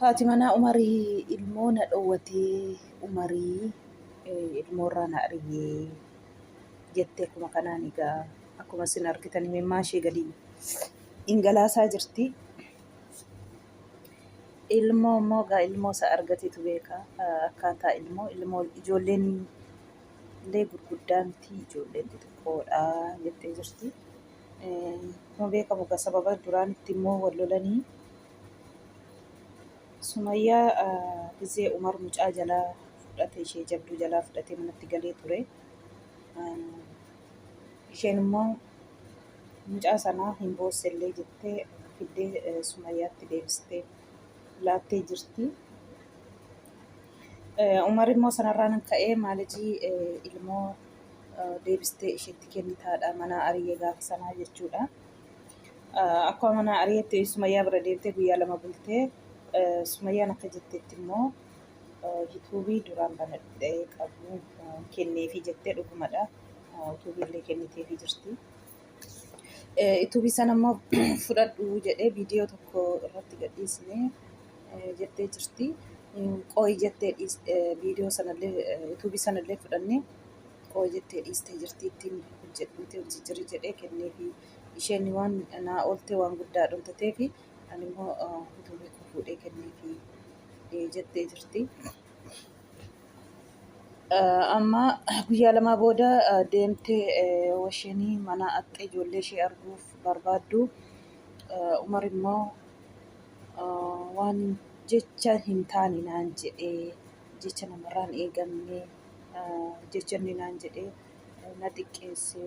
Haati manaa Umarii ilmoo na dhowwatee Umarii ilmoorraa na ariyee jettee akkuma kanaan egaa akkuma isin argitan imimmaa ishee gadi ingalaasaa jirti. Ilmoo immoo egaa ilmoo isaa argatetu beeka akkaataa ilmoo ilmoo ijoolleen illee gurguddaa miti ijoolleen xixiqqoodha jettee jirti. Akkuma beekamu egaa sababa duraan itti immoo wal lolanii Sumayyaa gizee Umar mucaa jalaa fudhate ishee jabduu jalaa fudhatee manatti galee ture. Isheen immoo mucaa sanaa hin boossellee jettee fiddee Sumayyaatti deebistee laattee jirti. Umar immoo sanarraan ka'ee maalijii ilmoo deebistee isheetti kennitaadha manaa ari'ee gaafa sanaa jechuudha. Akkuma manaa ari'etti Sumayyaa bira deemtee guyyaa lama bultee Sumayyaan akka jettetti immoo yuutuubii duraan banadhee qabu kenneefii jettee dhugumadha. Yuutuubii illee kenniteefii jirti. Yuutuubii sana immoo fudhadhu jedhee viidiyoo tokko irratti gadhiisnee jettee jirti. Qooyi jettee viidiyoo sanallee yuutuubii sanallee fudhannee koo jettee dhiistee jirti ittiin hojjedhuuti hojii jirii jedhee kenneefi isheen waan naa ooltee waan guddaa dhuntatee fi ani immoo utuu beeku fuudhee kenneefi jettee jirti. Amma guyyaa lamaa booda deemtee washeenii mana axxee ijoollee ishee arguuf barbaaddu Umar immoo waan jecha hin taane naan jedhee jecha namarraa hin eegamne jecha inni naan jedhee na xiqqeesse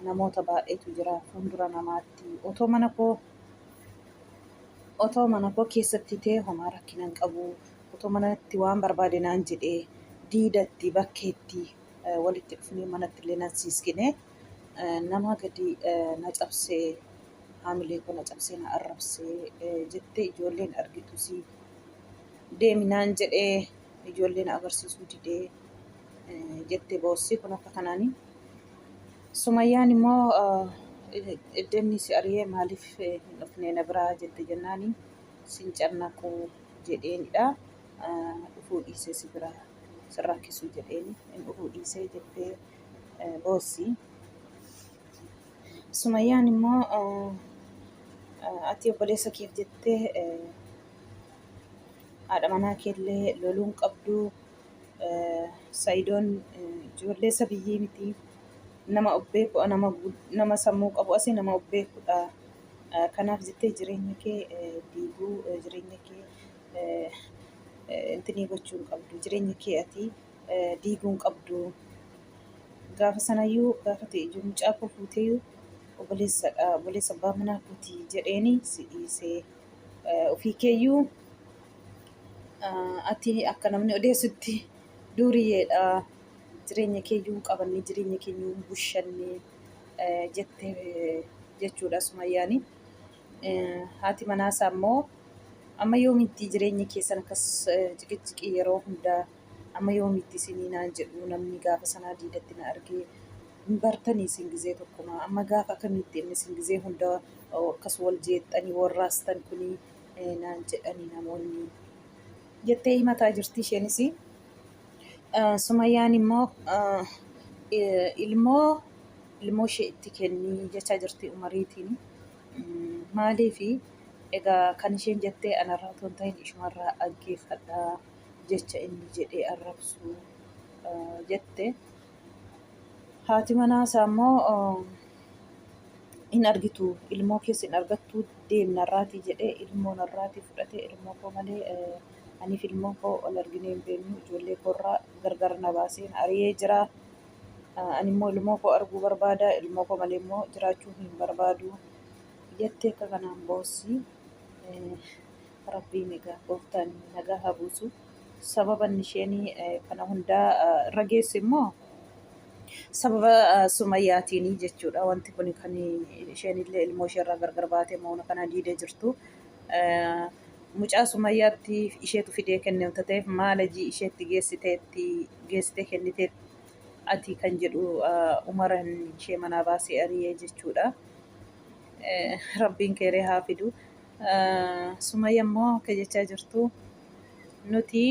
namoota baay'eetu jira fuuldura namaatti otoo mana koo otoo mana koo keessatti ta'e homaa rakkina hin qabu otoo manatti waan barbaade naan jedhee diidatti bakkeetti eh, walitti dhufnee manatti illee nan siiskine eh, nama gadi eh, na cabsee haamilee koo na cabsee na arrabsee eh, jettee ijoolleen argitusii deemi naan jedhee ijoollee na agarsiisuu didee jette boossii kun akka kanaani. Sumayyaan immoo iddeenni si ariyee maaliif hin dhufnee na biraa jette jennaani sin cannaquu jedheenidha. Dhufuu dhiisee si biraa sin rakkisuu jedheeni hin dhufuu dhiisee jettee boossii. Sumayyaan immoo ati obboleessa keef jettee haadha manaa keellee loluun qabdu sayidoon ijoollee isa biyyii miti nama of beeku nama nama sammuu qabu asi nama of beekudha kanaaf jettee jireenya kee diiguu jireenya kee intinii gochuu hin qabdu jireenya kee ati diiguu hin qabdu gaafa sanayyuu gaafa ta'e ijoollee mucaa koo fuuteeyyuu obboleessadha obboleessa abbaa manaa kooti jedheeni si dhiisee. Ofii keeyyuu ati akka namni odeessutti duuriyeedha jireenya keeyyuu hin qabanne jireenya keeyyuu hin bushanne jette jechuudha sumayyaani. Haati manaasaa immoo amma yoomitti jireenya keessan akkas ciqiciqii yeroo hundaa Amma yoomiitti isinii naan jedhuu namnii gaafa sanaa diidatti na argee hin bartanii isin gizee tokkumaa amma gaafa akamiitti inni isin gizee hunda akkas wal jeexxanii wal raastan kunii naan jedhanii namoonnii jettee himataa jirtii isheenisii Sumayyaan immoo ilmoo ilmoo ishee itti kennii jechaa jirtii umariitiin maaliifi egaa kan isheen jettee anarraa otoo hin ta'in ishumarraa dhaggeeffadhaa jecha inni jedhee arrabsu jette. Haati manaa isaa immoo hin argitu ilmoo keessa hin argattu deemna irraatii jedhee ilmoo narraatii fudhatee ilmoo koo malee aniif ilmoo koo ol arginee hin beeknu ijoollee koorraa gargar na baaseen ari'ee jira. Ani immoo ilmoo koo arguu barbaada ilmoo koo malee immoo jiraachuu hin barbaadu jettee akka kanaan boossii. Rabbiin egaa gooftaan nagaa haa buusu. Sababa inni isheen eh, kana hundaa eh, irra geesse immoo sababa eh, sumayyaatiini jechuudha. Wanti kun kan isheen illee ilmoo ishee irraa gargar baatee moona kana diidee jirtu. Eh, Mucaa sumayyaatti isheetu fidee kenne wanta ta'eef maala ijii isheetti geessiteetti geessitee kenniteetti ati kan jedhu eh, umaran ishee manaa baasee ari'ee jechuudha. Eh, Rabbiin keeree haa fidu. Sumayya immoo akka jechaa jirtu nuti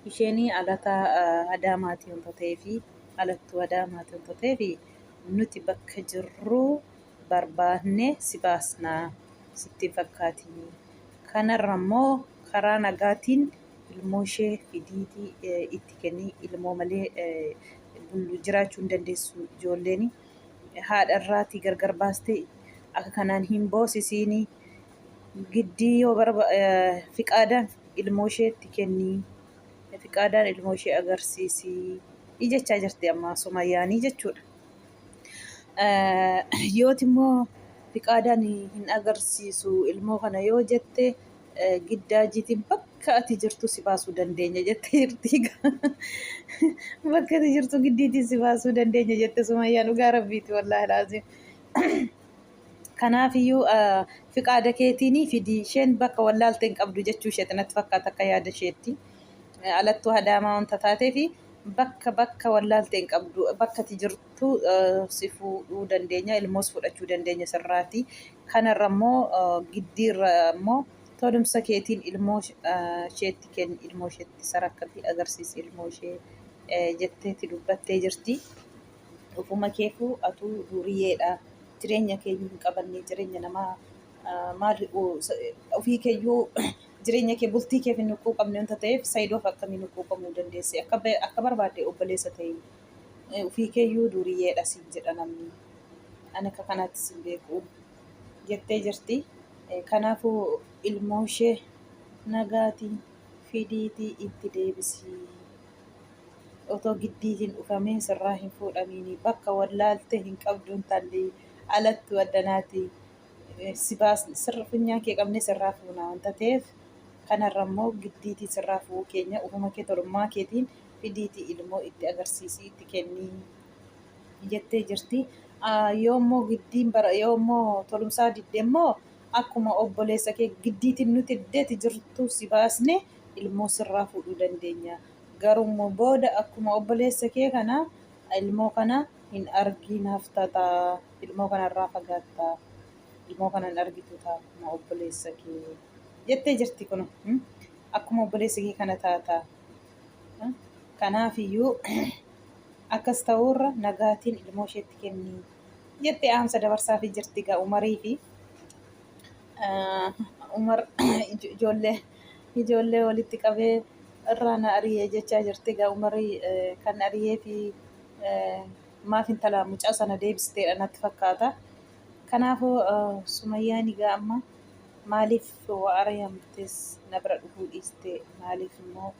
isheen alata adaamaati wanta ta'eef alattuu adaamaati wanta ta'eef nuti bakka jirru barbaadne si baasna sitti fakkaati. Kanarra immoo karaa nagaatiin ilmoo ishee fidiitii itti kennii ilmoo malee bullu jiraachuu hin dandeessu ijoolleen. haadha irraatii gargar baastee akka kanaan hin boosisiini giddii yoo barba fiqaadaan ilmoo isheetti kennii fiqaadaan ilmoo ishee agarsiisii jechaa jirti amma sumayyaanii jechuudha. Yooti immoo fiqaadaan hin agarsiisu ilmoo kana yoo jette Giddaa jiitiin bakka ati jirtu si baasuu dandeenya jette jirti. Bakka ati jirtu giddiitiin si baasuu dandeenya jette Sumayyaan dhugaa rabbiiti wallaahi laaziim. Kanaafiyyuu fiqaada keetiinii fidi isheen bakka wallaalte hin qabdu jechuu isheeti natti fakkaata akka yaada isheetti. Alattuu hadaamaa wanta taateefi bakka bakka wallaalte hin qabdu bakka ati jirtu. tu si fuudhuu dandeenya ilmoos fudhachuu dandeenya sirraati kanarra immoo giddiirra immoo tolumsa keetiin ilmoo isheetti kenni ilmoo isheetti sarakka fi agarsiisi ilmoo ishee jetteeti dubbattee jirti. Ofuma keefuu atuu duuriyeedha jireenya keeyyuu hin qabannee jireenya namaa maal ofii keeyyuu jireenya kee bultii keef hin huqquu qabne wanta ta'eef sayiidoof akkamii huqquu qabuu dandeesse akka barbaadde obboleessa ta'e. Ofii keeyyuu duuriyyeedha siin jedha namni. Ani akka kanaatti siin beeku jettee jirti. Kanaafuu ilmoo ishee nagaatiin fidiitii itti deebisii. Otoo giddii hin dhufamiin sirraa hin fuudhamiini. Bakka wallaalte hin qabduun talli alattu addanaati. Si baas sirra funyaan kee qabne sirraa fuuna wanta ta'eef kanarra immoo giddiitii sirraa fu'uu keenya ofuma kee tolummaa keetiin fidiitii ilmoo itti agarsiisii itti kennii jettee jirti. Ah, Yoo immoo giddiin bara yoo immoo tolumsaa didde immoo akkuma obboleessa kee giddiitiin nuti iddeeti jirtu si baasne ilmoo sirraa fuudhuu dandeenya. Garuu immoo booda akkuma obboleessa kee kana ilmoo kana hin argiin hafta ta'a. Ilmoo kana irraa fagaatta. Ilmoo kana hin argitu ta'a akkuma obboleessa kee jettee jirti kun. hmm? Akkuma obboleessa kee kana taata. Kanaafiyyuu akkas ta'uurra nagaatiin ilmoo isheetti kenni jette dhaamsa dabarsaafii jirti egaa Umarii fi Umar ijoollee ijoollee walitti qabee irraa na ariyee jechaa jirti egaa Umarii kan ariyee fi maaf intala mucaa sana deebisteedha natti fakkaata. Kanaafuu Sumayyaan egaa amma maaliif wa'ara yaamtees na bira dhufuu dhiiste maaliif immoo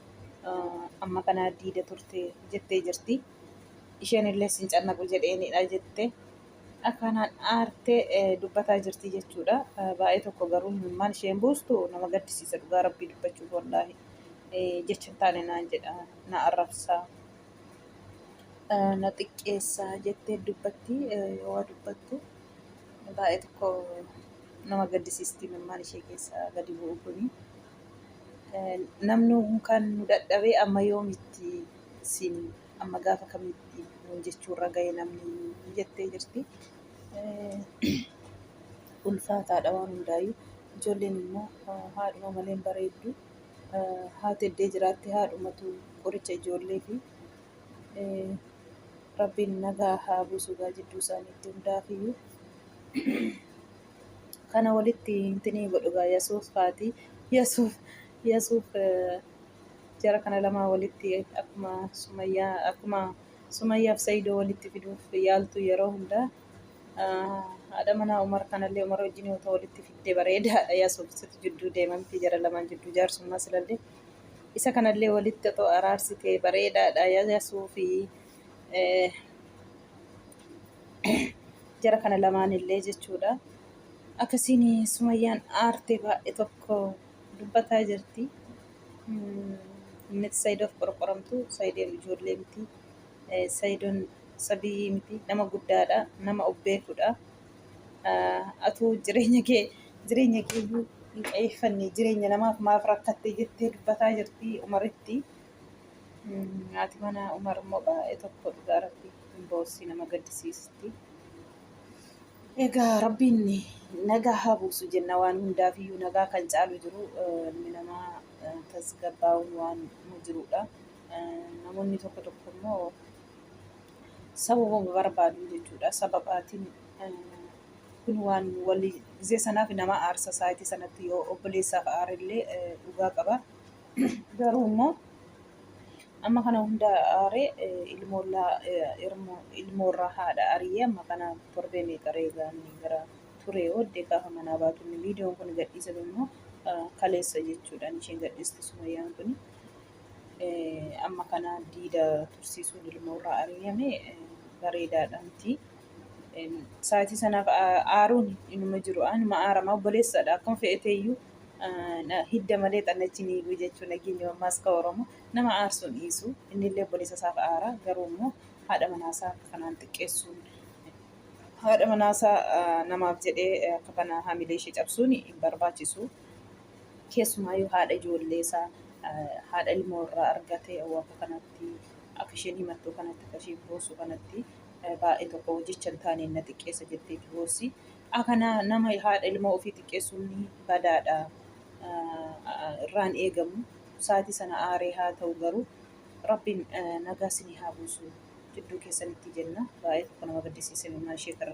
amma kana diida turte jettee jirti. Isheen illee sin cannaqu jedheenidha jette akkanaan aartee dubbataa jirti jechuudha. Baay'ee tokko garuu imimmaan isheen buustu nama gaddisiisa dhugaa rabbii dubbachuuf wallaahi jecha hin taane naan jedha na arrabsa. na xiqqeessa jettee dubbatti waa dubbattu baay'ee tokko nama gaddisiisti mimmaan ishee keessa gadi bu'u kuni. Namni kan nu dadhabee amma yoomitti siin amma gaafa kamitti nuun jechuurra ga'e namni jettee jirti. Ulfaataadha waan hundaayyuu. Ijoolleen immoo haadhuma malee hin bareeddu. haati eddee jiraatti haadhumatu qoricha ijoollee fi rabbiin nagaa haa buusu gaa jidduu isaaniitti hundaafiyyuu kana walitti hintinii godhu gaa yasuuf haati yasuuf yasuuf jara kana lamaa walitti akkuma sumayyaa akkuma sumayyaaf sayidoo walitti fiduuf yaaltu yeroo hundaa Haadha manaa Umar kanallee Umar wajjin yoo ta'u walitti fidde bareedaadha. Yaa soofisitu jidduu deemamti jara lamaan jidduu jaarsummaa silallee. Isa kanallee walitti otoo araarsite bareedaadha. Yaa suufi jara kana lamaanillee jechuudha. Akkasiin sumayyaan aarte baay'ee tokko dubbataa jirti. Inni Saidoof qorqoramtu Saideen ijoollee miti. Saidon sabiyyii miti nama guddaadha nama of beekudha atuu jireenya kee jireenya kee iyyuu hin qayeeffanne jireenya namaaf maaf rakkatte jettee dubbataa jirti umaritti haati mana umar immoo baay'ee tokko dhugaa rabbi hin boossii nama gaddisiisti egaa rabbiin nagaa haa buusu jenna waan hundaaf iyyuu nagaa kan caalu jiru ilmi namaa tasgabbaa'uun waan jiruudha. Namoonni tokko tokko immoo sababuma barbaadu jechuudha. Sababaatiin kun waan walii gisee sanaaf nama aarsa saayitii sanatti yoo obboleessaaf aarillee dhugaa qaba. Garuu immoo amma kana hunda aaree ilmoorraa haadha ari'ee amma kana torbee meeqa reegaanii gara turee booddee gaafa manaa baatu inni viidiyoon kun gadhiisame immoo kaleessa jechuudhaan isheen gadhiiste sumayyaan kun Amma kana diida tursiisuun ilmoo irraa ari'ame bareedaadha miti. Sa'aatii sanaaf aaruun inuma jiru anuma aarama obboleessadha akkuma fe'etee iyyuu hidda malee xannachi ni hiiku jechuun nageenya ammaas ka Oromoo nama aarsuun dhiisu inni illee obboleessa isaaf aara garuu immoo haadha manaasaa akka kanaan xiqqeessuun haadha manaasaa namaaf jedhee akka kana hamilee ishee cabsuun hin barbaachisu. Keessumaayyuu haadha ijoolleesaa, haadha ilmoo irraa argate wanta kanatti akka isheen himattu kanatti akka isheen boossu kanatti baay'ee tokko jecha hin taaneen na xiqqeessa jettee itti boossi. Akana nama haadha ilmoo ofii xiqqeessuun badaadha irraan eegamu. Saatii sana aaree haa ta'u garuu rabbiin nagaa sinii haa buusu jidduu keessanitti jenna. Baay'ee tokko nama gaddisiisa ilmaan ishee kana